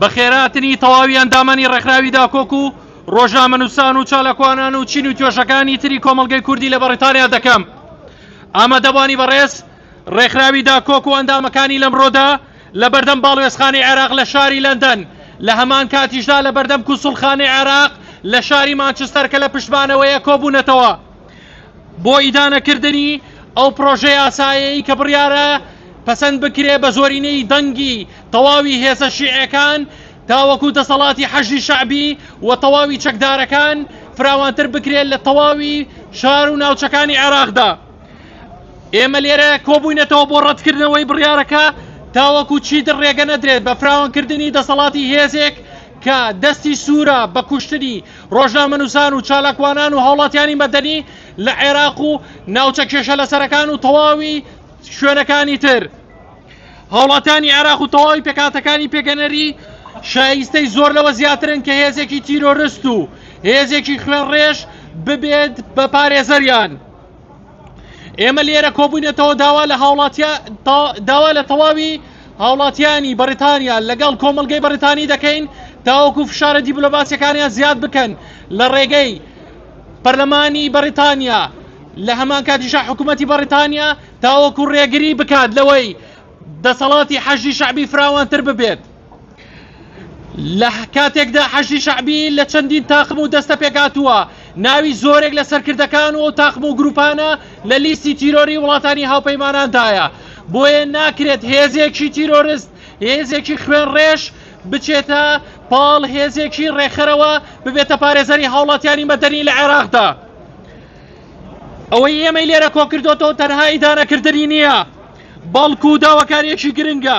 بەخێرهاتنی تەواوی ئەندامانی ڕێکخراوی داکۆک و ڕۆژنامەنووسان و چالاکوانان و چین و توێژەکانی تری کۆمەڵگەی کوردی لە بەڕیتانیا دەکەم ئامادەبانی بەڕێز ڕێکخراوی داکۆک و ئەندامەکانی لەمڕۆدا لە بەردەم باڵوێزخانی عێراق لە شاری لەندەن لە هەمان کاتیشدا لە بەردەم کوسڵخانی عێراق لە شاری مانچستەر کە لە پشتمانەوەیە کۆبوونەتەوە بۆ ئیدانەکردنی ئەو پرۆژە یاسایەی کە بڕیارە پەسەند بکرێ بە زۆرینەی دەنگی تەواوی هێزە شیعەکان تاوەکو دەسەڵاتی حەشدی شەعبی و تەواوی چەکدارەکان فراوانتر بکرێت لە تەواوی شار و ناوچەکانی عێراقدا ئێمە لێرە کۆبووینەتەوە بۆ ڕەتکردنەوەی بڕیارەکە تاوەکو چیتر ڕێگە نەدرێت بە فراوانکردنی دەسەڵاتی هێزێک کە دەستی سوورە بە کوشتنی ڕۆژنامەنووسان و چالاکوانان و هاوڵاتیانی مەدەنی لە عێراق و ناوچە کێشە لەسەرەکان و تەواوی شوێنەکانی تر هاوڵاتیانی عێراق و تەواوی پێکاتەکانی پێگەنەری شایستەی زۆر لەوە زیاترن کە هێزێکی تیرۆرست و هێزێکی خوێنڕێژ ببێت بە پارێزەریان. ئێمە لێرە کۆبووینەتەوە داوا لە هاوڵاتیا داوا لە تەواوی هاوڵاتیانی بەریتانیا لەگەڵ کۆمەلگەی بەریتانی دەکەین تاوەکو فشارە دیبلۆماسیەکانیان زیاد بکەن لە ڕێگەی پەرلەمانی بەریتانیا لە هەمان کاتیشا حکوومەتتی بەریتانیا تاوەکو ڕێگری بکات لەوەی دەسەڵاتی حەژی شعبی فراوانتر ببێت لە کاتێکدا حەشدی شەعبی لە چەندین تاقم و دەستە پێکاتووە ناوی زۆرێک لە سەرکردەکان و تاقم و گروپانە لە لیستی تیرۆری وڵاتانی هاوپەیماناندایە بۆیە ناکرێت هێزێکی تیرۆرست هێزێکی خوێن ڕێش بچێتە پاڵ هێزێکی ڕێکخەرەوە ببێتە پارێزەری هاوڵاتیانی مەدەنی لە عێراقدا ئەوەی ئێمەی لێرە کۆکردۆتەوە تەنها ئیدانەکردنی نییە بەڵکو داواکاریەکی گرنگە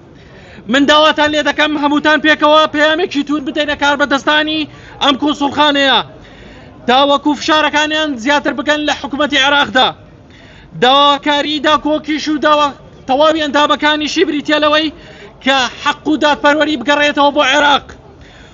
من داواتان لێ دەکەم هەمووتان پێکەوە پەیامێکی توور بدەینە کاربەدەستانی ئەم کونسوڵخانەیە تاوەکو فشارەکانیان زیاتر بکەن لە حکوومەتتی عێراقدا داواکاری داکۆکیش و داوا تەواوی ئەندامەکانیشی بریتە لەوەی کە حەق و دادپەروەری بگەڕێتەوە بۆ عێراق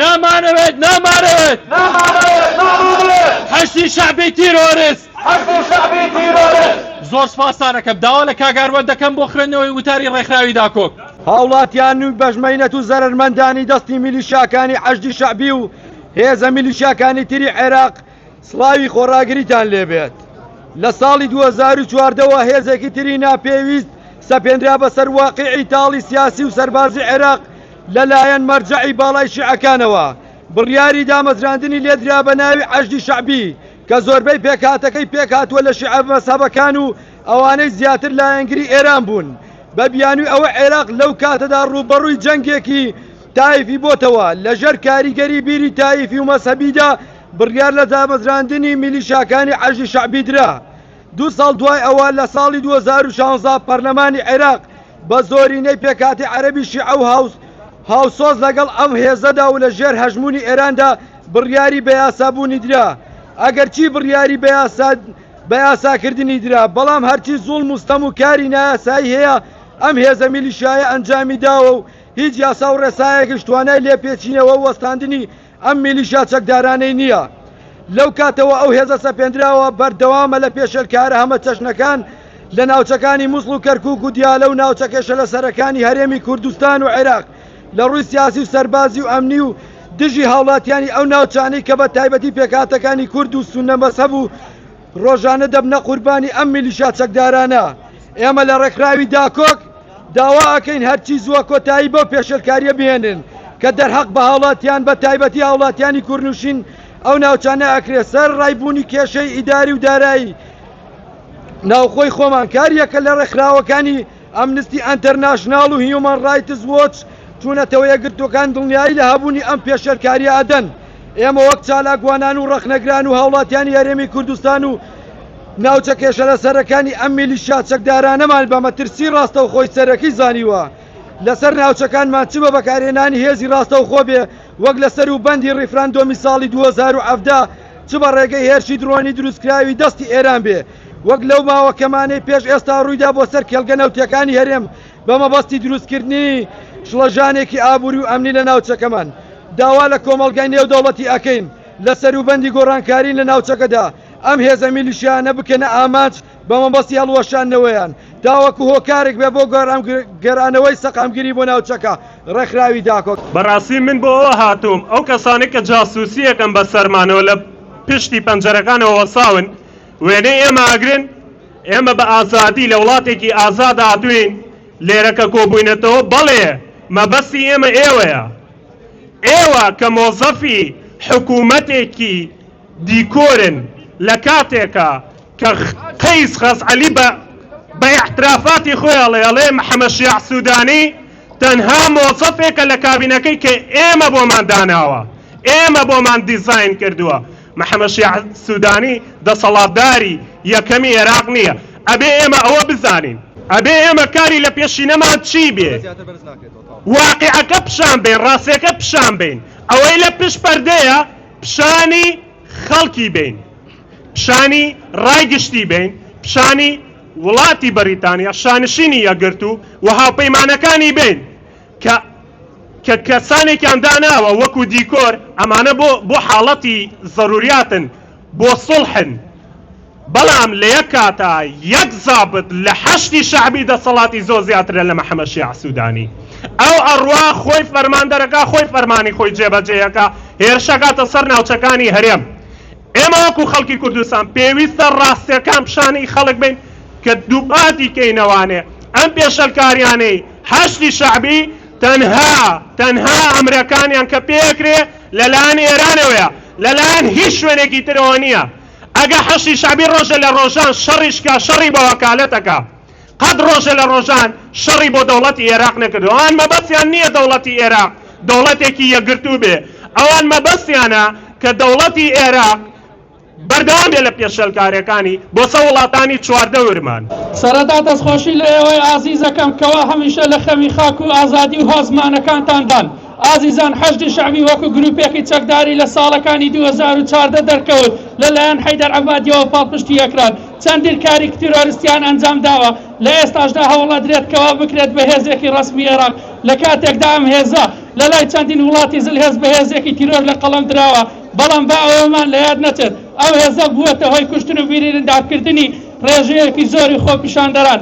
نامانەوێت نامانەوێت حەشدی شەعبی تیرۆرست زۆر سپاستانەکەم داوا لە کاگاروان دەکەم بۆ خوێندنەوەی وتاری ڕێکخراوی داکۆک هاوڵاتیان نوی بەشمەینەت و زەرەرمەندانی دەستی میلیشاکانی حەشدی شەعبی و هێزە میلیشاکانی تری عێراق سڵاوی خۆڕاگریتان لێ بێت. لە ساڵی دوو هەزار و چواردە وە هێزێکی تری ناپێویست سەپێنرا بەسەر واقیعی تاڵی سیاسی و سەربازی عێراق لە لایەن مەرجەعی باڵای شیعەکانەوە. بڕیاری دامەزراندنی لێ درا بە ناوی عەشدی شەعبی کە زۆربەی پێکهاتەکەی پێک هاتووە لە شیعە مەزهەبەکان و ئەوانەی زیاتر لایەنگری ئێران بوون. بە بیانووی ئەوە عێراق لەو کاتەدا ڕووبەڕووی جەنگێکی تایفی بۆتەوە لە ژێر کاریگەری بیری تایفی و مەزهەبیدا بڕیار لە دامەزراندنی میلیشاکانی حەشدی شەعبی درا. دوو ساڵ دوای ئەوە لە ساڵی دوو هەزار و شانزە پەرلەمانی عێراق بە زۆرینەی پێکهاتەی عەرەبی شیعە و هاوسۆز لەگەڵ ئەم هێزەدا و لە ژێر هەژموونی ئێراندا بڕیاری بە یاسابوونی درا. ئەگەرچی بڕیاری بە یاساکردنی درا، بەڵام هەرچی زوڵم و ستەم و کاری نایاسایی هەیە ئەم هێزە میلیشیایە ئەنجامی داوە و هیچ یاسا و ڕێسایەکیش توانای لێپێچینەوە و وەستاندنی ئەم میلیشیا چەکدارانەی نییە. لەو کاتەوە ئەو هێزە سەپێندراوە بەردەوامە لە پێشێلکارە هەمەچەشنەکان لە ناوچەکانی موسڵ و کەرکوک و دیالە و ناوچە کێشەلەسەرەکانی هەرێمی کوردستان و عێراق لە ڕووی سیاسی و سەربازی و ئەمنی و دژی هاوڵاتیانی ئەو ناوچانەی کە بە تایبەتی پێکهاتەکانی کورد و سوننە مەزهەب و ڕۆژانە دەبنە قوربانی ئەم میلیشیا چەکدارانە، ئێمە لە ڕێکخراوی داکۆک داوا ئەکەین هەرچی زووە کۆتایی بەو پێشێلکاریە بهێنن کە دەرهەق بە هاوڵاتیان بە تایبەتی هاوڵاتیانی کورنوشین ئەو ناوچانە ئەکرێ سەر ڕای بوونی کێشەی ئیداری و دارایی ناوخۆی خۆمان کاریەکە لە ڕێکخراوەکانی ئەمنستی ئەنتەرناشناڵ و هیومەن ڕایتس وۆچ چوونەتەوە یەکگرتووەکان دڵنیایی لە هەبوونی ئەم پێشێلکارییە ئەدەن، ئێمە وەک چالاکوانان و ڕەخنەگران و هاوڵاتیانی هەرێمی کوردستان و ناوچە کێشەلەسەرەکانی ئەم میلیشیا چەکدارانەمان بە مەترسی ڕاستەوخۆی سەرەکی زانیوە لەسەر ناوچەکانمان چ بە بەکارهێنانی هێزی ڕاستەوخۆ بێ وەک لە سەروبەندی ڕیفراندۆمی ساڵی دوو هەزار و حەڤدە چ بە ڕێگەی هێرشی درۆنی دروستکراوی دەستی ئێران بێ وەک لەو ماوە کەمانەی پێش ئێستا ڕوویدا بۆ سەر کێڵگە نەوتییەکانی هەرێم بە مەبەستی دروستکردنی شڵەژانێکی ئابووری و ئەمنی لە ناوچەکەمان داوا لە کۆمەڵگای نێودەوڵەتی ئەکەین لە سەروبەندی گۆڕانکاریی لە ناوچەکەدا ئەم هێزە میلیشیانە بکەنە ئامانج بە مەبەستی هەڵوەشاندنەوەیان تاوەکو هۆکارێک بێ بۆ گەرانەوەی سەقامگیری بۆ ناوچەکە ڕێکخراوی داکۆک. بەڕاستی من بۆ ئەوە هاتووم ئەو کەسانەی کە جاسووسییەکەن بەسەرمانەوە لە پشتی پەنجەرەکانەوە وەساون، وێنەی ئێمە ئەگرن، ئێمە بە ئازادی لە وڵاتێکی ئازاد هاتووین، لێرە کە کۆبووینەتەوە، بەڵێ مەبەستی ئێمە ئێوەیە، ئێوە کە مۆزەفی حکوومەتێکی دیکۆرن لە کاتێکا کە قەیس خەزعەلی بە بە ئیعترافاتی خۆی ئەڵێ، ئەڵێ محەمەد شیاع سوودانی تەنها مۆزەفێکە لە کابینەکەی کە ئێمە بۆمان داناوە، ئێمە بۆمان دیزاین کردووە. محەمەد شیاع سودانی دەسەڵاتداری یەکەمی عێراق نییە، ئەبێ ئێمە ئەوە بزانین، ئەبێ ئێمە کاری لە پێشینەمان چی بێ، واقیعەکە پیشان بەین، ڕاستیەکە پیشان بەین، ئەوەی لە پشت پەردەیە پیشانی خەڵکی بەین، پیشانی ڕای گشتی بەین، پیشانی وڵاتی بەریتانیا، شانشینی یەکگرتوو و هاوپەیمانەکانی بەین. کە کە کەسانێکیان داناوە وەکو دیکۆر ئەمانە بۆ بۆ حاڵەتی زەروریاتن بۆ سوڵحن بەڵام لە یەک کاتا یەک زابت لە حەشدی شەعبی دەسەڵاتی زۆر زیاترە لە مەحەمەد شیاع سودانی ئەو ئەڕوا خۆی فەرماندەرەکا خۆی فەرمانی خۆی جێبەجێیەکا هێرشەکاتە سەر ناوچەکانی هەرێم ئێمە وەکو خەڵکی کوردستان پێویستە ڕاستیەکان پیشانی خەڵک بەین کە دووپاتی کەینەوانێ ئەم پێشەلکاریانەی حەشدی شەعبی تەنها تەنها ئەمرەکانیان کە پێکرێ لە لایەن ئێرانەوەیە لە لایەن هیچ شوێنێکی ترەوە نیە ئەگە حەشدی شەعبی ڕۆژە لە ڕۆژان شەڕیش کا شەڕی بەوەکالەتەکە قەت ڕۆژە لە ڕۆژان شەڕی بۆ دەوڵەتی ئێراق نەکردوە، ئەوان مەبەستیان نیە دەوڵەتی ئێراق دەوڵەتێکی یەکگرتوو بێ، ئەوان مەبەستیانە کە دەوڵەتی ئێراق بەردەوام بێ لە پێشێلکاریەکانی بۆ سەر وڵاتانی چواردەورمان. سەرەتا دەستخۆشی لە ئێوەی ئازیزەکەم کەوا هەمیشە لە خەمی خاک و ئازادی و هۆزمانەکانتاندان. ئازیزان حەشدی شەعبی وەکو گروپێکی چەکداری لە ساڵەکانی دوو هەزار و چواردە دەرکەوت لە لایەن حەیدەر عەبادیەوە پاڵپشتی ئەکران چەندین کاریک تیرۆرستیان ئەنجام داوە لە ئێستاشدا هەوڵ ئەدرێت کەوا بکرێت بە هێزێکی ڕەسمی ئێراق لە کاتێکدا ئەم هێزە لە لای چەندین وڵاتی زل هێز بە هێزێکی تیرۆر لە قەڵەم دراوە بەڵام با ئەوەمان لە یاد نەچێت ئەو هێزە بووەتە هۆی کوشتن و بیریندار کردنی ڕێژەیەکی زۆری خۆپیشاندەران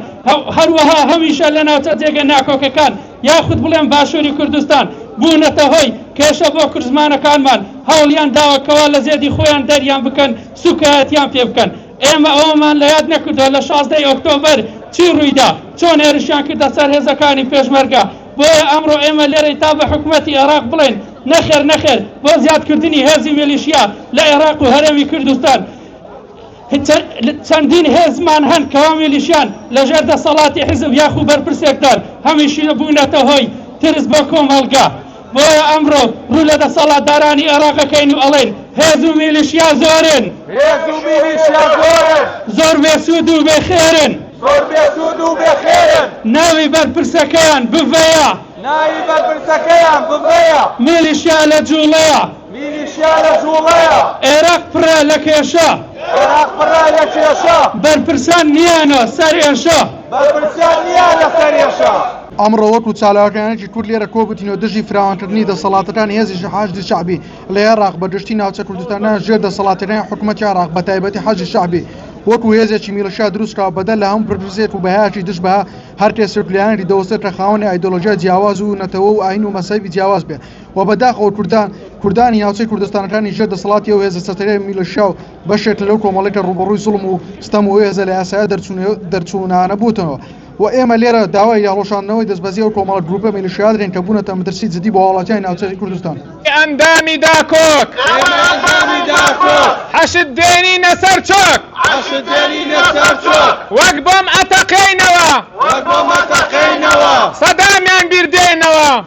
هەروەها هەمیشە لە ناوچە جێگە ناکۆکەکان یاخود بڵێم باشوری کوردستان، بوونەتە هۆی کێشە بۆ کوردزمانەکانمان، هەوڵیان داوە کەوا لە زێدی خۆیان دەریان بکەن، سوکایەتیان پێ بکەن. ئێمە ئەوەمان لە یاد نەکردوە لە شازدە ی ئۆکتۆبەر چی ڕوویدا، چۆن هێرشیان کردە سەر هێزەکانی پێشمەرگە، بۆیە ئەمڕۆ ئێمە لێرەین تا بە حکومەتی ئێراق بڵێین نەخێر نەخێر بۆ زیادکردنی هێزی میلیشیا لە ئێراق و هەرێمی کوردستان. چەندین هێزمان هەن کەوا میلیشیان لەژێر دەسەڵاتی حیزب یاخو بەرپرسێکدان هەمیشی بوونەتە هۆی ترس بۆ کۆمەڵگا بۆیە ئەمڕۆ ڕوو لە دەسەڵاتدارانی ئێراقەکەین و ئەڵێین هێز و میلیشیا زۆرن زۆر بێسوود و بێخێرن ناوی بەرپرسەکەیان بڤەیە میلیشیا لە جوڵەیە. میلیشیا لە جووڵەیە. عێراق پڕە لە کێشە. عێراق پڕە لە کێشە. بەرپرسان نییانە سەر ئێشە. بەرپرسان نییانە سەر ئێشە. ئەمڕۆ وەکو چالاکوانێکی کورد لێرە کۆبووتینەوە دژی فراوانکردنی دەسەڵاتەکانی هێزی حەشدی شەعبی لە عێراق بە گشتی ناوچە کوردستانە ژێر دەسەڵاتەکانی حکوومەتی عێراق بە تایبەتی حەشدی شەعبی وەکو هێزێکی میلشا دروستکراوە بەدەر لە هەموو پرسێک و بەهایەکی دژ بە هەر کێسێک لایەنێکی دەوەستێت کە خاوەنی ئایدۆلۆژیا جیاواز و نەتەوە و ئاین و مەسەبی جیاواز بێ و بەداخەوە کوردان کوردانی ناوچەی کوردستانەکانی ژێر دەسەڵاتی ئەو هێزە چەتەیە میلشیا و بەشێک لەو کۆمەڵی کە ڕوبەڕووی زوڵم و ستەم و هێزە لە یاسایە دەرچوونانە بووتەوە و ئێمە لێرە داوای یاڵۆشاندنەوەی دەستبەزی ئەو کۆمەڵە گروپە میلشیا دەکەین کە بوونەتە مەترسی جدی بۆ هاوڵاتیانی ناوچەی کوردستان ئەندامی داکۆک حەشد دێنینە سەر چۆک وەک بۆم ئەتەقێینەوە سەدامیان بیردێنەوە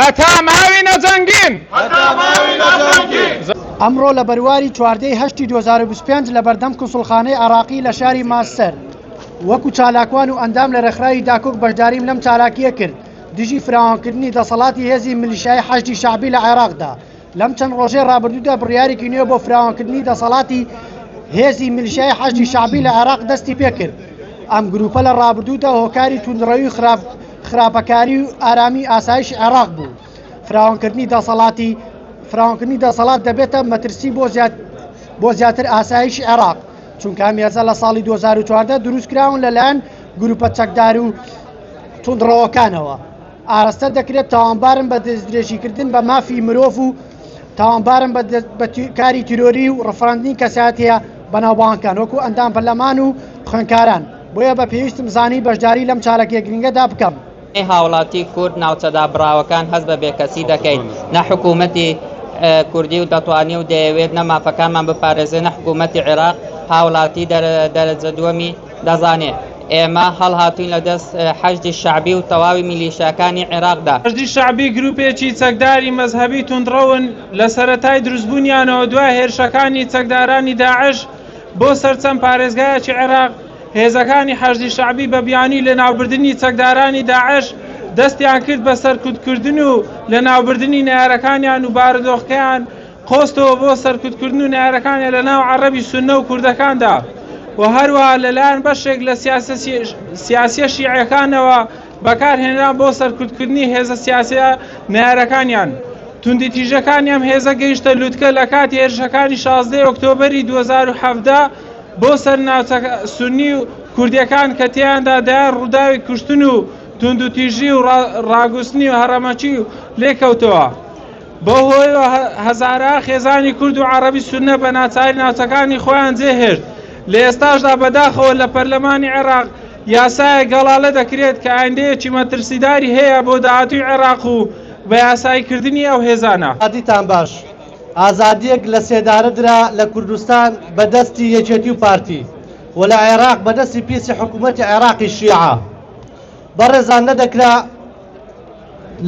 هەتا ماوی نەجەنگین. ئەمڕۆ لە بەرواری چواردەی هەشتی دوو هەزار و بیست و پێنج لە بەردەم کونسوڵخانەی عێراقی لە شاری مانچستەر وەکو چالاکوان و ئەندام لە رێکخراوی داکۆک بەشداریم لەم چالاکییە کرد دژی فراوانکردنی دەسەڵاتی هێزی ملیشیایی حەشدی شەعبی لە عێراقدا لەم چەند ڕۆژەی ڕابردوودا بڕیارێکی نوێ بۆ فراوانکردنی دەسەڵاتی هێزی ملشای حەشدی شعبی لە عێراق دەستی پێکرد ئەم گروپە لە ڕابردوودا هۆکاری توندڕەوی خراپ خراپەکاری و ئارامی ئاسایش عێراق بوو فراوانکردنی دەسەڵاتی فراوانکردنی دەسەڵات دەبێتە مەترسی بۆ زیاد بۆ زیاتر ئاسایش عێراق چونکە مێزە لە ساڵی 2014 دروستکراون لەلایەن گروپە چەکدار و توندڕەوەکانەوە ئاراستە دەکرێت تاوانبارن بە دەستدرێژیکردن بە مافی مرۆڤ و تاوانبارن بە کاری تیرۆری و ڕفراندنی کەساتەیە بەناوبانکان وەکو ئەندام پەرلەمان و خوێنکاران بۆیە بە پێویستم زانی بەشداری لەم چاالکێ گرنگەدا بکەم. هاوڵاتی کورد ناوچەدا بڕاوەکان هەز بە بێکەسی دەکەین نە حکوومەتی کوردی و دەتوانانی و دەیەوێت نە مافەکانمان بپارێزێنە حکوومەتتی عێراق هاوڵاتی دەرەجە دووەمی دەزانێ ئێمە هەڵهاتووین لە دەست حەشدی شەعبی و تەواوی میلیشیاکانی عێراقدا. حەشدی شەعبی گرووپێکی چەکداری مەزهەبی توندڕەون، لە سەرەتای دروستبوونیانەوە دوای هێرشەکانی چەکدارانی داعش بۆ سەر چەند پارێزگایەکی عێراق، هێزەکانی حەشدی شەعبی بە بیانووی لەناوبردنی چەکدارانی داعش دەستیان کرد بە سەرکوتکردن و لەناوبردنی نەیارەکانیان و بارودۆخەکەیان قۆستەوە بۆ سەرکوتکردن و نەیارەکانی لەناو عەڕەبی سوننە و کوردەکاندا و هەروەها لەلایەن بەشێک لە سیاسییە شیعەکانەوە بەکارهێنران بۆ سەرکوتکردنی هێزە سیاسییە نەیارەکانیان. توندیتیژەکانی ئەم هێزە گەیشتە لوتکە لە کاتی هێرشەکانی شازدەی ئۆکتۆبەری دوو هەزار و حەڤدە بۆ سەر ناوچە سوننی و کوردییەکان کە تێیاندا دەیان ڕووداوی کوشتن و توندوتیژی و ڕاگوستنی و هەڕەمەکی لێکەوتەوە. بەوهۆیەوە هەزارەها خێزانی کورد و عەڕەبی سوننە بە ناچاری ناوچەکانی خۆیان جێهێشت، لە ئێستاشدا بەداخەوە لە پەرلەمانی عێراق یاسایەک گەڵالە دەکرێت کە ئایندەیەکی مەترسیداری هەیە بۆ داهاتووی عێراق و بە یاساییکردنی ئەو هێزانە. یادیتان باش ئازادیەک لە سێدارە درا لە کوردستان بە دەستی یەکێتی و پارتی و لە عێراق بە دەستی پیسی حکوومەتی عێراقی شیعە بەڕێزان نەدەکرا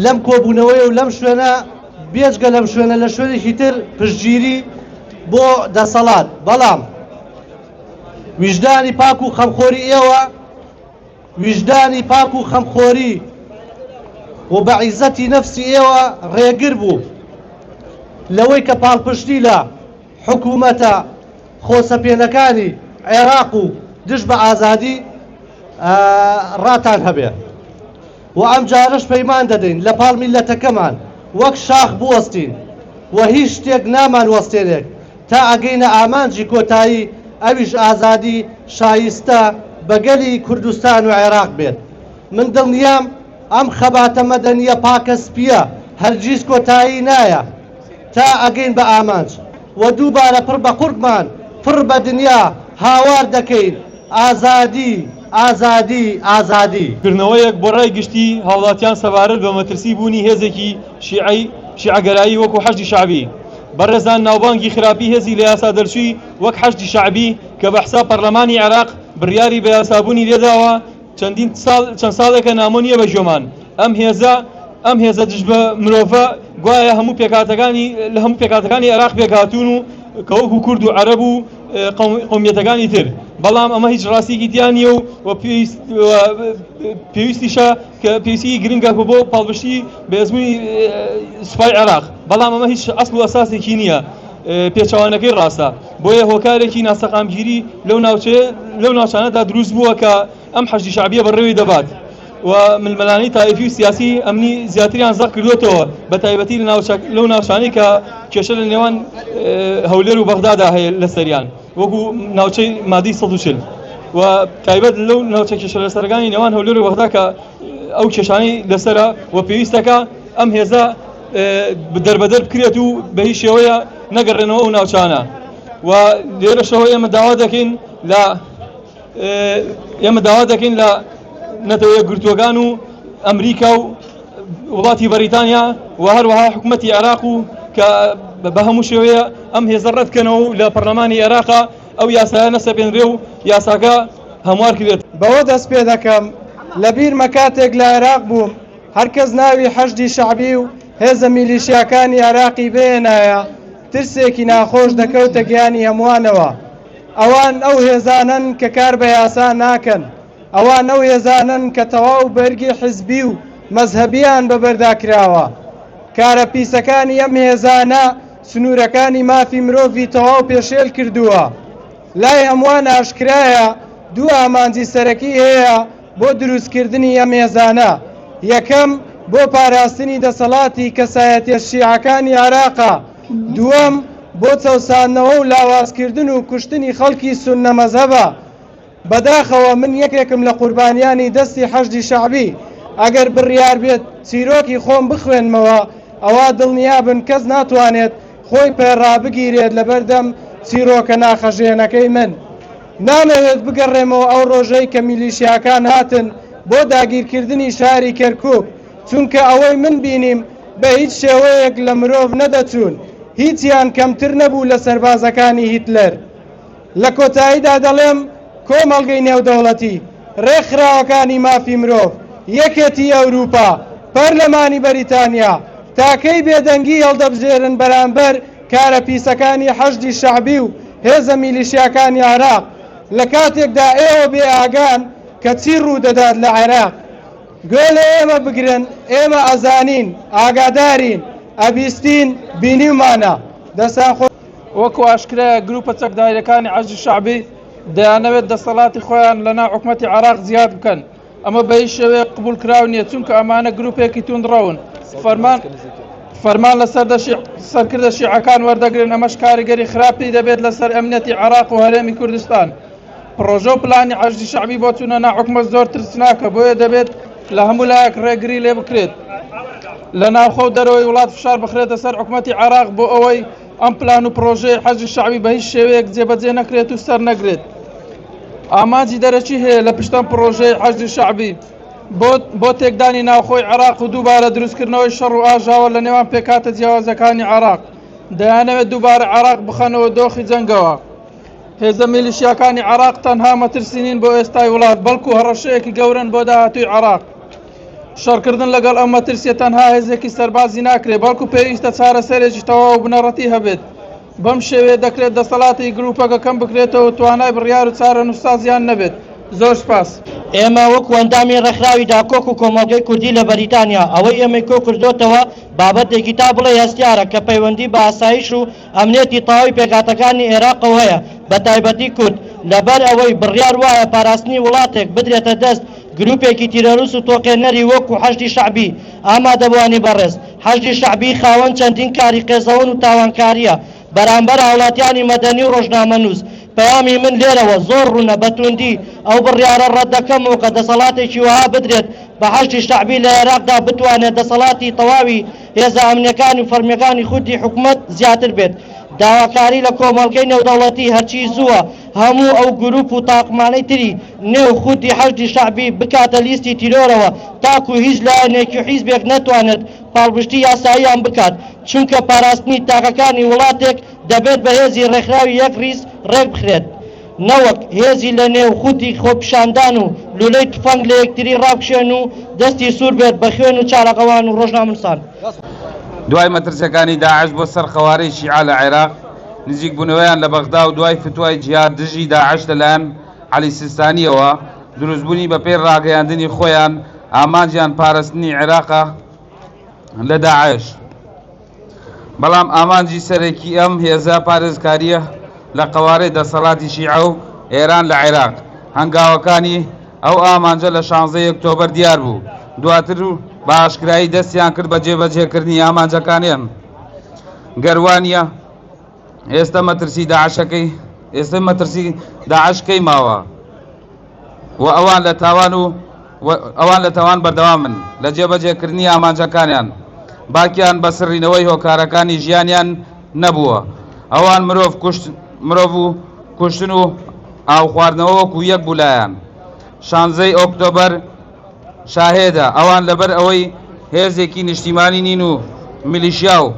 لەم کۆبوونەوەیە و لەم شوێنە بێجگە لەم شوێنە لە شوێنێکی تر پشتگیری بۆ دەسەڵات بەڵام ویژدانی پاک و خەمخۆری ئێوە ویژدانی پاک و خەمخۆری و بە عیزەتی نەفسی ئێوە ڕێگر بوو لەوەی کە پاڵپشتی لە حکوومەتە خۆسەپێنەکانی عێراق و دژ بە ئازادی ڕاتان هەبێت وە ئەمجارەش پەیمان دەدەین لە پاڵ میللەتەکەمان وەک شاخ بوەستین و هیچ شتێک نامان وەستێنێک تا ئەگەینە ئامانجی کۆتایی ئەویش ئازادی شایستە بە گەلی کوردستان و عێراق بێت من دڵنیام ئەم خەباتە مەدەنیە پاکە سپیە هەرگیز کۆتایی نایە تا ئەگەین بە ئامانج و دووبارە پڕ بە قوڕگمان پڕ بە دنیا هاوار دەکەین ئازادی، ئازادی، ئازادی. کردنەوەیەک بۆ رای گشتی هاوڵاتیان سەبارەت بە مەترسی بوونی هێزێکی شیعەی شیعەگەرایی وەکو حەشدی شەعبی. بەڕێزان ناوبانگی خراپی هێزی لە یاسا دەرچووی وەک حەشدی شەعبی کە بە حساب پەرلەمانی عێراق بڕیاری بە یاسابوونی لێداوە، چەندین ساڵ چەند ساڵێکە نامۆ نییە بە ژۆمان ئەم هێزە ئەم هێزە دژ بە مرۆڤە گوایە هەموو پێکاتەکانی لە هەموو پێکاتەکانی عێراق پێکاتون و کەوەک و کورد و عەرەب و قومیەتەکانی تر بەڵام ئەمە هیچ ڕاستیکی تیانە و و پێویستیشە کە پێویستی گرنگە بۆ پاڵبشتی بەێزمونی سوپای عێراق بەڵام ئەمە هیچ ئەسڵ و ئەساسێکی نییە پێچوانەکەی ڕاستە بۆیە هۆکارێکی ناسەقامگیری لەو ناوچەیە لەو ناوچانەدا دروست بووە کە ئەم حەشدی شعبیە بەڕێوەی دەبات و ململانی تایفی و سیاسی ئەمنی زیاتریان زەق کردوێتەوە بە تایبەتی لەو ناوچانی کە کێشە لە نێوان هەولێر و بەغدادا هەیە لە سەریان وەکو ناوچەی مادی 140 و تایبەت لەو ناوچە کێشە لە سەرگانی نێوان هەولێر و بەغدا کە ئەو کێشانی لەسرە و پێویستەکە ئەم هێزە دەربەدەر بکرێت و بە هیچ شێوەیە نەگەڕێنەوە ئەو ناوچانە و لێرەشەوە ئێمە داوا دەکەین لە ئێمە داوا دەکەین لە نەتەوە یەکگرتووەکان و ئەمریکا و وڵاتی بەریتانیا و هەروەها حکوومەتی عێراق و کە بە هەموو شێوەیە ئەم هێزە ڕەتکەنەوە و لە پەرلەمانی عێراقا ئەو یاسایە نەسەپێنرێ و یاساکە هەموار کرێت بەوە دەست پێ دەکەم لە بیرمە کاتێک لە عێراق بووم هەر کەس ناوی حەشدی شەعبی و هێزە میلیشیاکانی عێراقی بهێنایە، ترسێکی ناخۆش دەکەوتە گیانی هەمووانەوە. ئەوان ئەو هێزانەن کە کار بە یاسا ناکەن، ئەوان ئەو هێزانەن کە تەواو بەرگی حیزبی و مەزهەبییان بە بەردا کراوە. کارە پیسەکانی ئەم هێزانە سنوورەکانی مافی مرۆڤی تەواو پێشێل کردووە. لای هەمووان ئاشکرایە دوو ئامانجی سەرەکی هەیە، بۆ دروستکردنی ئەم ئێزانە، یەکەم بۆ پاراستنی دەسەڵاتی کەسایەتیە شیعەکانی عێراقە، دووەم بۆ چەوساندنەوە و لاوازکردن و کوشتنی خەڵکی سوننە مەزهەبە. بەداخەوە من یەکێکم لە قوربانیانی دەستی حەشدی شەعبی، ئەگەر بڕیار بێت چیرۆکی خۆم بخوێنمەوە ئەوا دڵنیابن کەس ناتوانێت خۆی پێ ڕابگیرێت لەبەردەم چیرۆکە ناخهەژێنەکەی من. نامەوێت بگەڕێمەوە ئەو ڕۆژەی کە میلیشیاکان هاتن بۆ داگیرکردنی شاری کەرکوک، چونکە ئەوەی من بینیم بە هیچ شێوەیەک لە مرۆڤ نەدەچوون، هیچیان کەمتر نەبوو لە سەربازەکانی هیتلەر. لە کۆتاییدا دەڵێم کۆمەڵگەی نێودەوڵەتی، ڕێکخراوەکانی مافی مرۆڤ، یەکێتیی ئەوروپا، پەرلەمانی بەریتانیا، تاکەی بێدەنگی هەڵدەبژێرن بەرامبەر کارە پیسەکانی حەشدی شەعبی و هێزە میلیشیاکانی عێراق، لە کاتێکدا ئێوە بێ ئاگان کە چی ڕوو دەدات لە عێراق. گوێ لە ئێمە بگرن، ئێمە ئەزانین، ئاگادارین، ئەبیستین، بینیومانە. دەستان خۆش. وەکو ئاشکرایە گروپە چەکداریەکانی حەشدی شەعبی دەیانەوێت دەسەڵاتی خۆیان لەناو حکومەتی عێراق زیاد بکەن، ئەمە بەهیچ شێوەیەک قبوڵکراو نییە، چونکە ئەمانە گروپێکی توندڕەون فەرمان فەرمان لە سەرکردە شیعەکان وەردەگرن، ئەمەش کاریگەری خراپی دەبێت لەسەر ئەمنیەتی عێراق و هەرێمی کوردستان. پڕۆژە و پلانی عەشدی شەعبی بۆ چوونە ناحکومەت زۆر ترسناکە، بۆیە دەبێت لە هەموو لایەک ڕێگری لێ بکرێت لە ناوخۆ و دەرەوەی وڵات فشار بخرێتە سەر حکومەتی عێراق بۆ ئەوەی ئەم پلان و پڕۆژەی حەزی شەعبی بە هیچ شێوەیەک جێبەجێ نەکرێت و سەر نەگرێت ئامانجی دەرەکی هەیە لە پشتەم پڕۆژەی حەزی شەعبی بۆ تێکدانی ناوخۆی عێراق و دووبارە دروستکردنەوەی شەڕ و ئاژاوە لە نێوان پێکاتە جیاوازەکانی عراق دەیانەوێت دووبارە عراق بخەنەوە دۆخی جەنگەوە هێزە میلیشیاکانی عراق تەنها مەترسینین بۆ ئێستای وڵات بەڵکو هەڕەشەیەکی گەورن بۆ داهاتوی عراق شەڕکردن لەگەڵ ئەم مەترسییە تەنها هێزێکی سەربازی ناکرێت، بەڵکو پێویستە چارەسەرێکی تەواو و بنەڕەتی هەبێت. بەم شێوەیە دەکرێت دەسەڵاتی گرووپەکە کەم بکرێتەوە و توانای بڕیار و چارەنووسسازیان نەبێت. زۆر سوپاس. ئێمە وەکو ئەندامی ڕێکخراوی داکۆک و کۆمەڵگەی کوردی لە بەریتانیا ئەوەی ئێمەی کۆکردۆتەوە بابەتێکی تا بڵێی هەستیارە کە پەیوەندی بە ئاسایش و ئەمنیەتی تەواوی پێکهاتەکانی ئێراقەوە هەیە، بەتایبەتی کورد، لەبەر ئەوەی بڕیار وایە پاراستنی وڵاتێک بدرێتە دەست گروپێکی تیرۆرست و تۆقێنەری وەکو حەشدی شەعبی، ئامادەبوانی بەڕێز حەشدی شەعبی خاوەن چەندین کاری قێزەون و تاوانکاریە بەرامبەر هاوڵاتیانی مەدەنی و ڕۆژنامەنوس، پەیامی من لێرەوە زۆر ڕونە بەتوندی ئەو بڕیارە ڕەتدەکەمەوە کە دەسەڵاتێکی وەها بدرێت بە حەشدی شەعبی لە ئێراقدا بتوانێت دەسەڵاتی تەواوی هێزە ئەمنیەکان و فەرمیەکانی خوودی حکومەت زیاتر بێت، داواکاری لە کۆمەڵگەی نێودەوڵەتی هەرچی زووە هەموو ئەو گرووپ و تاقمانەی تری نێو خوودی حەشدی شەعبی بکاتە لیستی تیرۆرەوە تاکوو هیچ لایەنێکی و حیزبێک نەتوانێت پاڵپشتی یاساییان بکات چونکە پاراستنی تاکەکانی وڵاتێک دەبێت بە هێزی ڕێکخراوی یەک ڕیز ڕێکبخرێت. نەوەک هێزی لە نێو خوتی خۆپیشاندان و لولەی تفەنگ لە یەکتری ڕابکشێن و دەستی سوور بێت بە خوێن و چارەغەوان و ڕۆژنامنوسان. دوای مەترسیەکانی داعش بۆ سەر قەوارەی شیعە لە عێراق، نزیک بونەوەیان لە بەغدا و دوای فتوای جیهاد دژی داعش لە لایەن عەلی سیستانیەوە، دروست بونی بە پێی ڕاگەیاندنی خۆیان ئامانجیان پارستنی عێراقە لە داعش. بەڵام ئامانجی سەرەکی ئەم هێزە پارێزکارییە لە قەوارەی دەسەڵاتی شیعە و ئێران لە عێراق. هەنگاوەکانی ئەو ئامانجە لە شانزدە ی ئۆکتۆبەر دیار بوو، دواتر و بە ئاشکرایی دەستیان کرد بە جێبەجێکردنی ئامانجەکانیان، گەر وا نییە، ئێستە مەترسی داعشەکەی ئێستە مەترسی داعش کەی ماوە و ئەوان لە تاوان و ئەوان لە تاوان بەردەوام من لە جێبەجێکردنی ئامانجەکانیان باکیان بە سڕینەوەی هۆکارەکانی ژیانیان نەبووە ئەوان مرۆڤ کوشت مرۆڤ و کوشتن و ئاو خواردنەوە وەکو یەک بولایەن شانزەی ئۆکتۆبەر شاهێدە، ئەوان لەبەر ئەوەی هێزێکی نیشتیمانی نین و میلیشیا و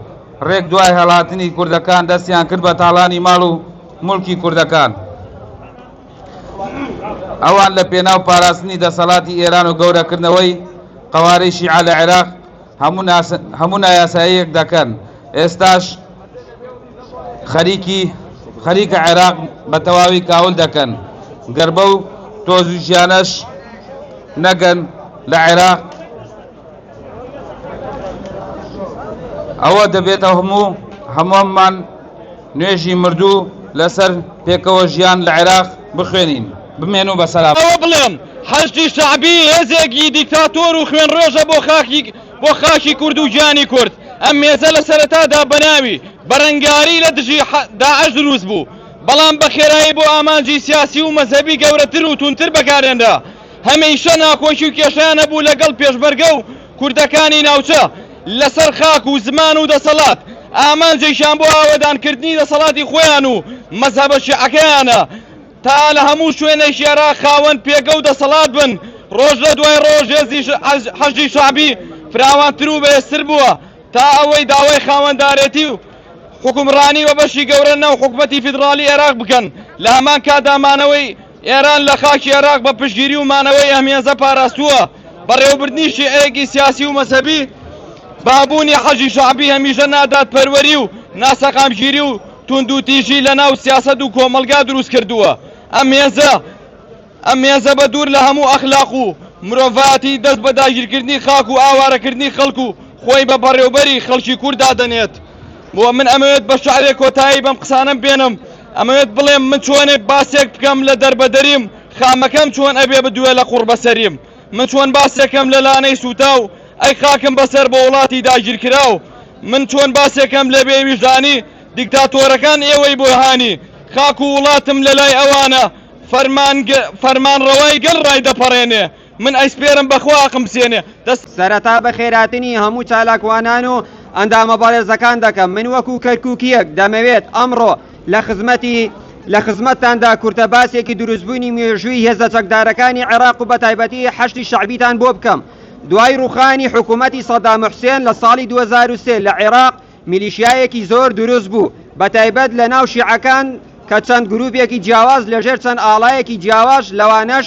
ڕێک دوای هەڵاتنی کوردەکان دەستیان کرد بە تاڵانی ماڵ و موڵکی کوردەکان، ئەوان لە پێناو پاراستنی دەسەڵاتی ئێران و گەورەکردنەوەی قەوارەی شیعە لە عێراق، هەموو نایاساییەک دەکەن ئێستاش خەریکی خەریکە عێراق بە تەواوی کاول دەکەن گەر بەو تۆزویشیانەش نەگەن لە عێراق ئەوە دەبێتە هەموو هەموومان نوێژی مردوو لەسەر پێکەوە ژیان لە عێراق بخوێنین. بمێنو بە سەلامەت. ئەوە بڵێم حەشدی شەعبی هێزێکی دیکتاتۆر و خوێنڕێژە بۆ خاکی بۆ خاکی کورد و گیانی کورد ئەم مێزە لە سەرەتادا بەناوی بەرەنگاری لە دژی داعش دروست بوو بەڵام بە خێرایی بۆ ئامانجی سیاسی و مەزهەبی گەورەتر و توندتر بەکارهێنرا هەمیشە ناکۆکی و کێشەیان هەبوو لەگەڵ پێشمەرگە و کوردەکانی ناوچە لەسەر خاک و زمان و دەسەڵات ئامانجێکیان بۆ ئاوەدانکردنی دەسەڵاتی خۆیان و مەزهەبە شیعەکەیانە تا لە هەموو شوێنێکی عێراق خاوەن پێگە و دەسەڵات بن، ڕۆژ لە دوای ڕۆژ هێزی حەشدی شەعبی فراوانتر و بەهێزتر بووە تا ئەوەی داوای خاوەندارێتی و حوکمڕانی بە بەشی گەورە ناو حکومەتی فیدڕاڵی عێراق بکەن لە هەمان کاتدا مانەوەی ئێران لە خاکی عێراق بە پشتگیری و مانەوەی ئەم هێزە پاراستووە، بەڕێوەبردنی شیعەیەکی سیاسی و مەزهەبی بە هەبوونی حەشدی شەعبی هەمیشە نادادپەروەری و ناسەقامگیری و توندوتیژی لە ناو سیاسەت و کۆمەڵگا دروست کردووە. ئەم هێزە ئەم هێزە بە دوور لە هەموو ئەخلاق و مرۆڤایەتی دەست بە داگیرکردنی خاک و ئاوارەکردنی خەڵک و خۆی بە بەڕێوبەری خەڵکی کورد دادەنێت. بۆ من ئەمەوێت بە شعرێک کۆتایی بەم قسانم بێنم ئەمەوێت بڵێم من چۆنێک باسێک بکەم لە دەربەدەریم خامەکەم چۆن ئەبێ بدوێ لە قوڕ بەسەریم من چۆن باسێکەم لە لانەی سووتاو ئەی خاکم بەسەر بە وڵاتی داگیرکراو من چۆن باسێکەم لە بێویژدانی دیکتاتۆرەکان ئێوەی بۆهانی خاک و وڵاتم لە لای ئەوانە فەرمان ڕەوای گەل ڕای دەپەڕێنێ من ئەیسپێرم بەخوا ئەقم بسێنێ دەست. سەرەتا بەخێراتنی هەموو چالاکوانان و ئەندامە بەڕێزەکان دەکەم من وەکو کەرکوکیەک دەمەوێت ئەمڕۆ لە خزمەتی لە خزمەتتاندا کورتە باسێکی دروستبوونی مێژووی هێزە چەکدارەکانی عێراق و بەتایبەتی حەشدی شەعبیتان بۆ بکەم دوای ڕوخانی حکومەتی سەدام حوسێن لە ساڵی 2023 لە عێراق میلیشیایەکی زۆر دروست بوو بەتایبەت لە ناو شیعەکان کە چەند گروپێکی جیاواز لەژێر چەند ئاڵایەکی جیاواش لەوانەش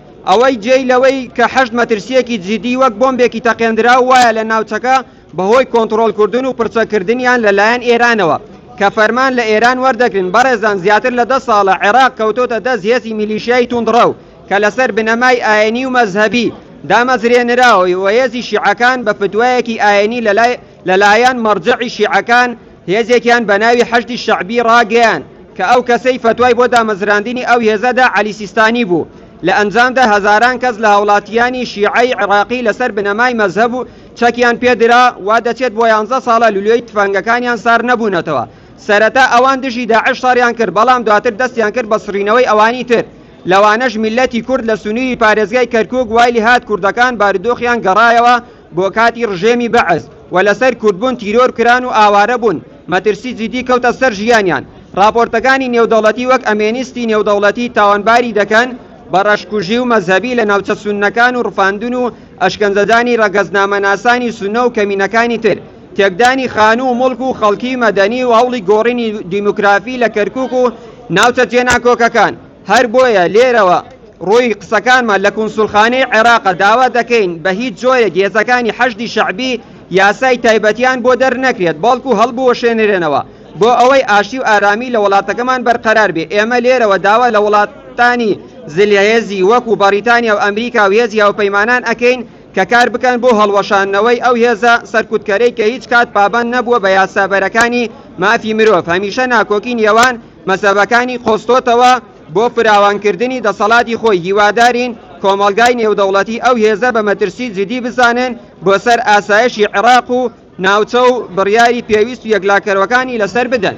ئەوەی جێی لەوەی کە حەشد مەترسییەکی جیدی وەک بۆمبێکی تەقێندراو وایە لە ناوچەکە بەهۆی کۆنتڕۆڵکردن و پڕچەککردنیان لەلایەن ئێرانەوە کە فەرمان لە ئێران وەردەگرن بەڕێزان زیاتر لە دە ساڵە عێراق کەوتۆتە دەست هێزی میلیشیای توندڕەو کە لەسەر بنەمای ئاینی و مەزهەبی دامەزرێنراوەی و هێزی شیعەکان بە فتوایەکی ئاینی لەلای لەلایەن مەرجەعی شیعەکان هێزێکیان بە ناوی حەشدی شەعبی ڕاگەیاند کە ئەو کەسەی فەتوای بۆ دامەزراندنی ئەو هێزە دا عەلی سیستانی بوو، لە ئەنجامدا هەزاران کەس لە هاوڵاتییانی شیعەی عێراقی لەسەر بنەمای مەزهەب و چەکیان پێ درا، وا دەچێت بۆ یانزە ساڵە لولوی تفەنگەکانیان سار نەبوونەتەوە، سەرەتا ئەوان دژی داعش شەڕیان کرد بەڵام دواتر دەستیان کرد بە سڕینەوەی ئەوانی تر، لەوانەش میللەتی کورد لە سنووری پارێزگای کەرکووک وای لێهات کوردەکان بارودۆخیان گەڕایەوە بۆ کاتی ڕژێمی بەعس و لەسەر کوردبوون تیرۆر کران و ئاوارە بوون، مەترسی جیدی کەوتە سەر ژیانیان. ڕاپۆرتەکانی نێودەوڵەتی وەک ئەمێنیستی نێودەوڵەتی تاوانباری دەکەن بە ڕەشکوژی و مەزهەبی لە ناوچە سوننەکان و ڕفاندن و ئەشکەنجەدانی ڕەگەزنامەناسانی سوننە و کەمینەکانی تر، تێکدانی خانوو و موڵک و خەڵکی مەدەنی و هەوڵی گۆڕینی دیموگرافی لە کەرکووک و ناوچە جێناکۆکەکان. هەر بۆیە لێرەوە ڕووی قسەکانمان لە کونسولخانەی عێراقە داوا دەکەین بە هیچ جۆرێک هێزەکانی حەشدی شەعبی یاسای تایبەتیان بۆ دەرنەکرێت بەڵکو هەڵبوەشێنرێنەوە بۆ ئەوەی ئاشتی و ئارامی لە وڵاتەکەمان بەرقەرار بێ ئێمە لێرەوە داوا لە وڵاتانی زلهێزی وەکو بەڕیتانیا و ئەمریکا و هێزی هاوپەیمانان ئەکەین کە کار بکەن بۆ هەڵوەشانەوەی ئەو هێزە سەرکوتکەرەی کە هیچ کات پابەند نەبووە بە یاسابەرەکانی مافی مرۆڤ هەمیشە ناکۆکی نێوان مەزهەبەکانی قۆستۆتەوە بۆ فراوانکردنی دەسەڵاتی خۆی، هیوادارین کۆمەڵگای نێودەوڵەتی ئەو هێزە بە مەترسی جدی بزانن بۆ سەر ئاسایشی عێراق و ناوچە و بڕیاری پێویست و یەکلاکەرەوەکانی لەسەر بدەن.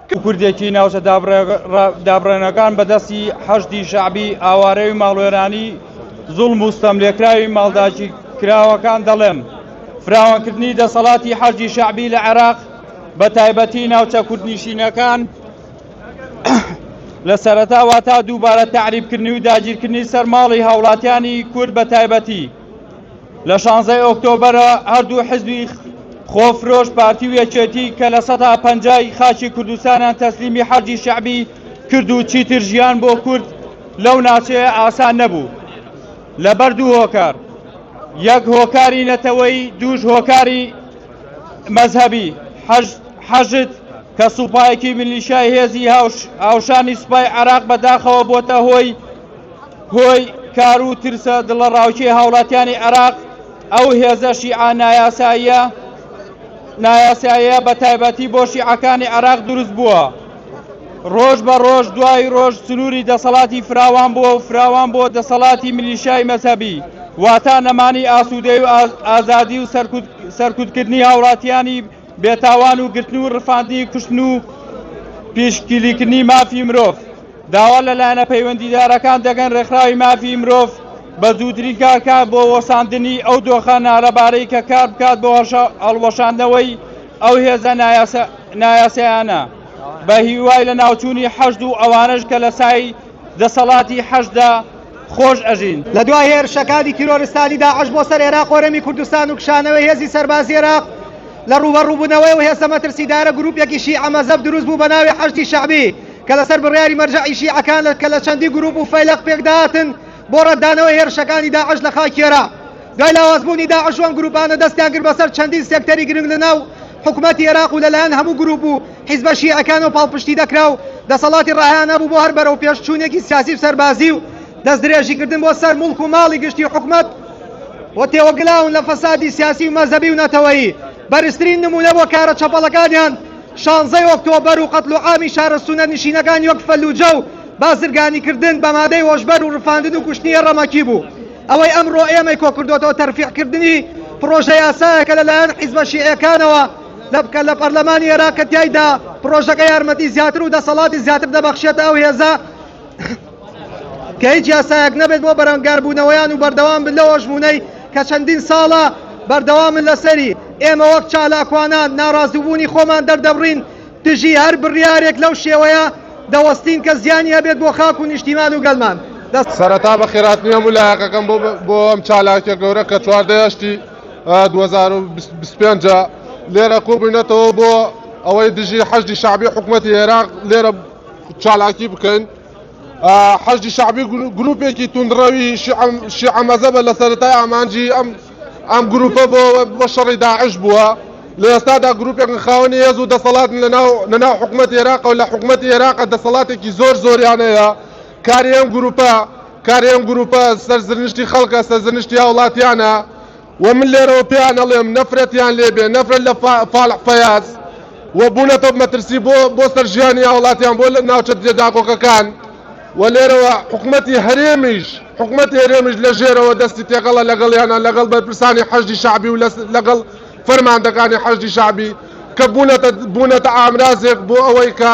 کە کوردێکی ناوچە دابڕێنەکان بە دەستی حەشدی شەعبی ئاوارەوی ماڵوێرانی زوڵ موستەم لێکراوی ماڵداچی کراوەکان دەڵێم فراوانکردنی دەسەڵاتی حەشدی شەعبی لە عێراق بە تایبەتی ناوچە کوردنیشینەکان لە سەرەتا واتا دووبارە تعریبکردنی و داگیرکردنی سەرماڵی هاوڵاتیانی کورد بە تایبەتی لە شانزەی ئۆکتۆبەرە هەردوو حزبی خۆفرۆش پارتی و یەکێتی کە لە سەدا پەنجای خاچی کوردستانیان تەسلیمی حەرجی شەعبی کرد و چیتر ژیان بۆ کورد لەو ناچەیە ئاسان نەبوو لە بەر دوو هۆکار یەک هۆکاری نەتەوەی دووش هۆکاری مەذهبی حەشد کە سوپایەکی ملیشای هێزی هاوشانی سوپای عراق بەداخەوە بۆتە هۆی هۆی کار و ترسە دڵەڕاوکێ هاوڵاتیانی عێراق ئەو هێزە شیعە نایاساییە نایاساییە بە تایبەتی بۆ شیعەکانی عێراق دروست بووە ڕۆژ بە ڕۆژ دوای ڕۆژ سنووری دەسەڵاتی فراوان بووە و فراوان بۆ دەسەڵاتی ملیشای مەسەبی واتا نەمانی ئاسوودەی و ئازادی و سەرکوتکردنی هاوڵاتیانی بێتاوان و گرتن و ڕفاندنی کوشتن و پیشگیریکردنی مافی مرۆڤ داوا لە لایەنە پەیوەندیدارەکان دەگەن ڕێکخراوی مافی مرۆڤ بە زووترین کارکە بۆ وەساندنی ئەو دۆخە نالەبارەی کە کار بکات بۆ هەڵوەشاندنەوەی ئەو هێزە نایاسایانە بە هیوای لە ناوچوونی حەشد و ئەوانەش کە لە سای دەسەڵاتی حەشدا خۆش ئەژین. لە دوای هێرشەکانی تیرۆرستانی داعش بۆ سەر عێراق و هەرێمی کوردستان و کشانەوەی هێزی سەربازی عێراق لە ڕووبەڕووبوونەوەی ئەو هێزە مەترسیدارە گرووپێکی شیعە مەزەب دروست بوو بە ناوی حەشدی شەعبی کە لەسەر بڕیاری مەرجەعی شیعەکان کە لە چەندی گرووپ و فەیلەق پێکداهاتن بۆ ڕەتدانەوەی هێرشەکانی داعش لە خاکی عێراق دوای لاوازبوونی داعش و ئەم گرووپانە دەستیان کرد بەسەر چەندین سێکتەری گرنگ لەناو حکومەتی عێراق و لەلایەن هەموو گرووپ و حیزبە شیعەکان و پاڵپشتی دەکرا و دەسەڵاتی ڕاهیانە بوو بۆ هەر بەرەو پێشچوونێکی سیاسی و سەربازی و دەست درێژیکردن بۆ سەر مڵک و ماڵی گشتی حکومەت و تێوەگلاون لە فەسادی سیاسی و مەزەبی و نەتەوەیی بەرزترین نمونە بۆ کارە چەپەڵەکانیان شانزەی ئۆکتۆبەر و قەتل و عامی شارە سونە نشینەکان یەک فەلوجە و بازرگانی کردن بە مادەی هۆشبەر و ڕفاندن و کوشتنیە ڕەمەکی بوو ئەوەی ئەمڕۆ ئێمەی کۆکردوەوە تەرفیعکردنی پرۆژە یاسایەکە لەلایەن حیزبە شیعەکانەوە دەبکە لە پەرلەمانی ئێراق کە تیایدا پڕۆژەکە یارمەتی زیاتر و دەسەڵاتی زیاتر دەبەخشێتە ئەو هێزە کە هیچ یاسایەک نەبێت بۆ بەرەنگاربوونەوەیان و بەردەوام بن لەوە ژمونەی کە چەندین ساڵە بەردەوامن لەسەری ئێمە وەک چالاکوانان ناڕازوبوونی خۆمان دەردەبڕین دژی هەر بڕیارێک لەو شێوەیە دەوەستین کە زیانی هەبێت بۆ خاک و نیشتیمان و گەلمان سەرەتا بە خێراتنیە بوو لایەکەکەم بۆ بۆ ئەم چالاکە گەورە کە چواردەیەشتی 2025 لێرە کۆبووینەتەوە بۆ ئەوەی دژی حەشدی شعبی حکوومەتی عێراق لێرە چالاکی بکەین حەشدی شعبی گروپێکی توندڕەوی شیعەمەزەبە لە سەرای ئامانجی ئەم ئەم گروپە بۆ بە شەڕی داعش بووە لە ئێستادا گروپێکن خاوەنی هێز و دەسەڵات لەناو لەناو حکوومەت عێراق و لە حکوومەت عێراق دەسەڵاتێکی زۆر زۆریانەیە کاری ئەم گرووپە کاری ئەم گرووپە سەرزنشتی خەڵکە سەرزنشتی هاوڵاتیانە و من لێرەوە پێیان ئەڵێم نەفرەتیان لێبێ نەفرەت لە فالح فەیاز و بوونەتە مەترسی بۆ بۆ سەر ژیانی هاوڵاتیان بۆ لە ناوچە دێ داکۆکەکان و لێرەوە حکومەتی هەرێمیش حکومەتی هەرێمیش لە ژێرەوە دەستی تێکەڵە لەگەڵیانە لەگەڵ بەرپرسانی حەشدی شعبی و لەگەڵ فەرماندەکانی حەشدی شعبی کە بوونەتە بوونەتە ئامرازێک بۆ ئەوەی کە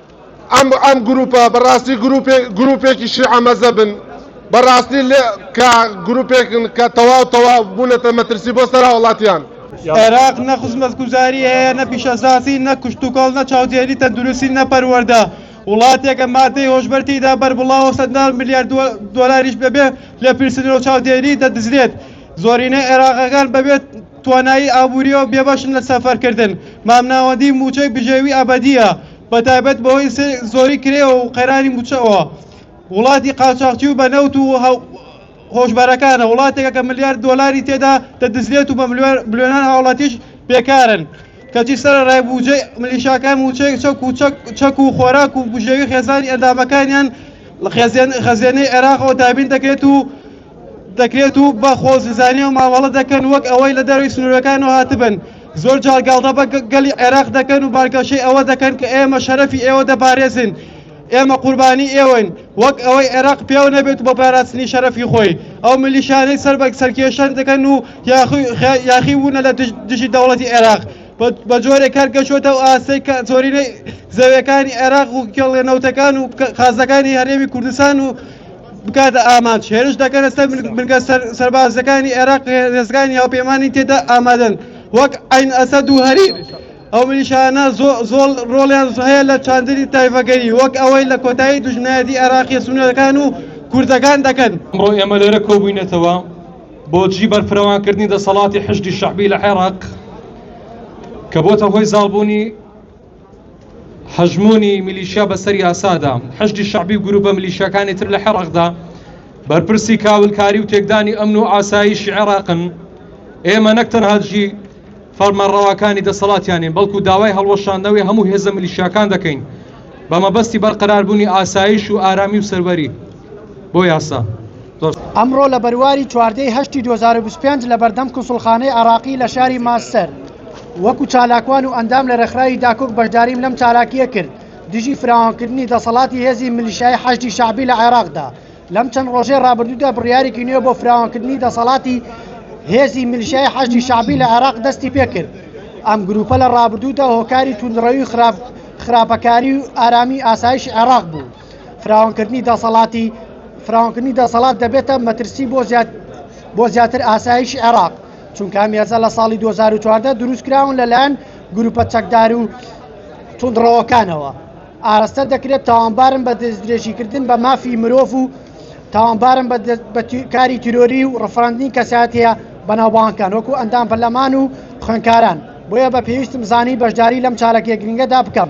ئەم ئەم گروپە بەڕاستی گروپێ گروپێکی شیعە مەزەبن بەڕاستی لێ کە گروپێکن کە تەواو تەواو بوونەتە مەترسی بۆ سەر هاوڵاتیان. عێراق نە خزمەتگوزاری هەیە نە پیشەسازی نە کشتوکاڵ نە چاودێری تەندروستی نە پەروەردە وڵاتێکە مادەی هۆشبەر تێیدا بەربڵاوە سەدان ملیار دۆلاریش بەبێ لێپرسنەوە چاودێری دەدزرێت زۆرینەی عێراقەکان بەبێت توانایی ئابوورییەوە بێبەشن لە سەفەرکردن، مامناوەندی مووچەی بژێوی ئەبەدییە، بەتایبەت بەهۆی زۆری کرێ و قەیرانی مووچەوە، وڵاتی قاچاخچی و بە نەوت و هۆشبەرەکانە، وڵاتێکە کە ملیار دۆلاری تێدا دەدزرێت و بە ملیۆنان هاوڵاتیش بێکارن، کەچی سەرەڕای بووجەی ملیشاکان مووچەی چەک و خۆراک و بژێوی خێزانی ئەندامەکانیان لە خەزێنەی عێراقەوە دابین دەکرێت و دەکرێت و بە خۆزیزانیەوە مامەڵە دەکەن وەک ئەوەی لە دەروی سنوورەکانەوە هاتبن زۆر جار گاڵدە بە گەلی عێراق دەکەن و بانگەشەی ئەوە دەکەن کە ئێمە شەرەفی ئێوە دەپارێزین ئێمە قوربانی ئێوەین وەک ئەوەی عێراق پێو نەبێت بۆ پاراستنی شەرەفی خۆی ئەو ملیشانەی سەر بە سەرکێشان دەکەن و یاخی بوونە لە دژی دەوڵەتی عێراق بە جۆرێک کار گەشتوەتە و ئاستەی کە زۆرینەی زەویەکانی عێراق و کێڵێنەوتەکان و خازەکانی هەرێمی کوردستان و بکاتە ئامانج هێرش دەکەنە سەر بنکە سەربازەکانی عێراق هێزەکانی هاوپەیمانی تێدا ئامادەن وەک عین ئەسەد و هەریر ئەو ملیشانە زۆڵ ڕۆڵیان هەیە لە چاندری تایفەگەری وەک ئەوەی لە کۆتایی دژنایەتی عێراقی سونەکان و کوردەکان دەکەن ئەمڕۆ ئێمە لێرە کۆبووینەتەوە بۆجی بەرفرەوانکردنی دەسەڵاتی حشدی شعبی لە عێراق کە بۆتە هۆی زاڵبوونی هەژموونی میلیشیا بەسەر یاسادا حشدی شعبی و گروپە ملیشیەکانی تر لە حێڕقدا بەرپرسی کاولکاری و تێکدانی ئەمن و ئاساییشی عێراقن ئێمە نەک تەنهاجی فەرمانڕەواکانی دەسەڵاتیانین بەڵکو داوای هەڵوەشاندنەوەی هەموو هێزە ملیشیاکان دەکەین بە مەبەستی بەرقەراربوونی ئاسایش و ئارامی و سەروەری بۆ یاسا. ئەمڕۆ لە بەرواری چواردە ی هەشتی دوو هەزار و بیست و پێنج لە بەردەم کونسوڵخانەی عێراقی لە شاری مانچستەر وەکو چالاکوان و ئەندام لە رێکخراوی داکۆک بەشداریم لەم چالاکییە کرد دژی فراوانکردنی دەسەڵاتی هێزی ملیشیایی حەشدی شەعبی لە عێراقدا لەم چەند رۆژەی رابردوودا بڕیارێکی نوێ بۆ فراوانکردنی دەسەڵاتی هێزی ملیشیایی حەشدی شەعبی لە عێراق دەستی پێکرد ئەم گروپە لە رابردوودا هۆکاری توندڕەوی خراپ خراپەکاری و ئارامی ئاسایش عێراق بوو. فراوانکردنی دەسەڵاتی فراوانکردنی دەسەڵات دەبێتە مەترسی بۆ زیاد بۆ زیاتر ئاسایشی عێراق چونکە مێزە لە ساڵی 2014 دروست کراون لەلایەن گروپە چەکدار و تونندڕەوەکانەوە ئاراستە دەکرێت تاوانبارن بە دەستدرێژیکردن بە مافی مرۆڤ و تاوانبارن کاری تیرۆری و ڕفراندنی کەساتەیە بەناوبانکان وەکو ئەندام پەرلەمان و خوێنکاران بۆیە بە پێویستم زانی بەشداری لەم چاالکێ گرنگەدا بکەم.